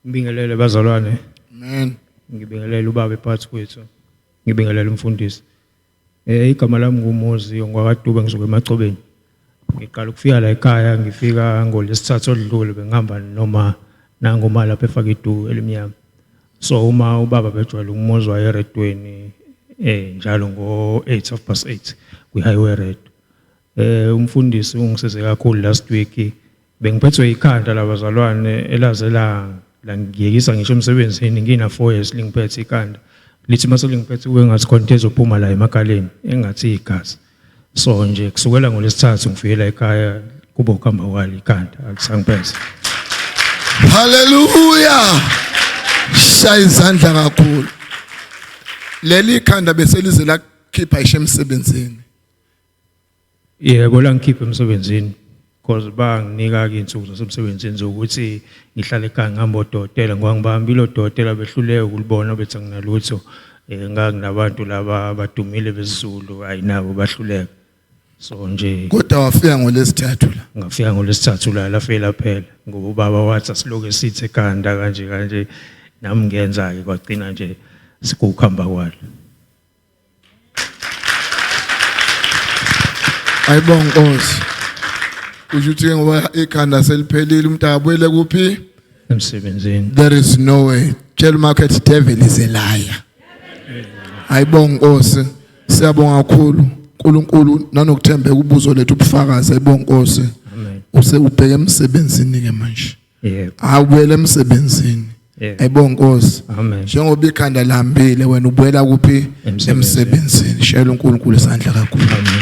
Ngibingelele bazalwane. Amen. Ngibingelele ubaba ephakathi kwethu. Ngibingelele umfundisi. Eh igama lami nguMozi ngwakaDube ngizoke emacobeni. Ngiqala ukufika la ekhaya ngifika ngolesithathu odlule bengihamba noma nangoma lapha efaka idu elimnyama. So uma ubaba bejwayele ukumozwa eredweni eh njalo ngo 8 of past 8 kwi highway red. Eh umfundisi ungisize kakhulu last week Bengiphethwe ikhanda labazalwane elaze la langiyekisa ngisho emsebenzini ngina 4 years lingiphethe ikhanda lithi mase lingiphethe kube ngathi khona into ezophuma la emakhaleni engathi igazi so nje kusukela ngolesithathu ngifikela ekhaya kubo kuhamba kwali ikhanda akusangiphethe haleluya shaya izandla kakhulu leli khanda bese lize lakhipha ishe emsebenzini Yebo la ngikhiphe emsebenzini because banginika ke insuku zasemsebenzini zokuthi ngihlale ekhaya ngihamba odokotela ngoba ngibahambile odokotela behluleke ukulibona bethi anginalutho um nganginabantu laba abadumile besizulu hhayi nabo bahluleka so nje kodwa wafika ngolesithathu la ngafika ngolesithathu la lafela phela ngoba ubaba wathi asiloke sithe ekhanda kanje kanje nami ngenza-ke kwagcina nje sikukuhamba kwalo Ayibonga Nkosi. Kusho ukuthi ke ngoba ikhanda seliphelile umuntu akabuyele kuphi? Emsebenzini. There is no way. Tell market devil is a liar. Ayibonga Nkosi. Siyabonga kakhulu. uNkulunkulu nanokuthembeka ubuzo lethu ubufakazi ayibonga Nkosi. Amen. Use ubheke emsebenzini ke manje. yebo awubuyele emsebenzini Yebo. ayibo nkosi Amen. njengoba ikhanda lihambile wena ubuyela kuphi Emsebenzini. emsebenzini shayela uNkulunkulu isandla kakhulu Amen.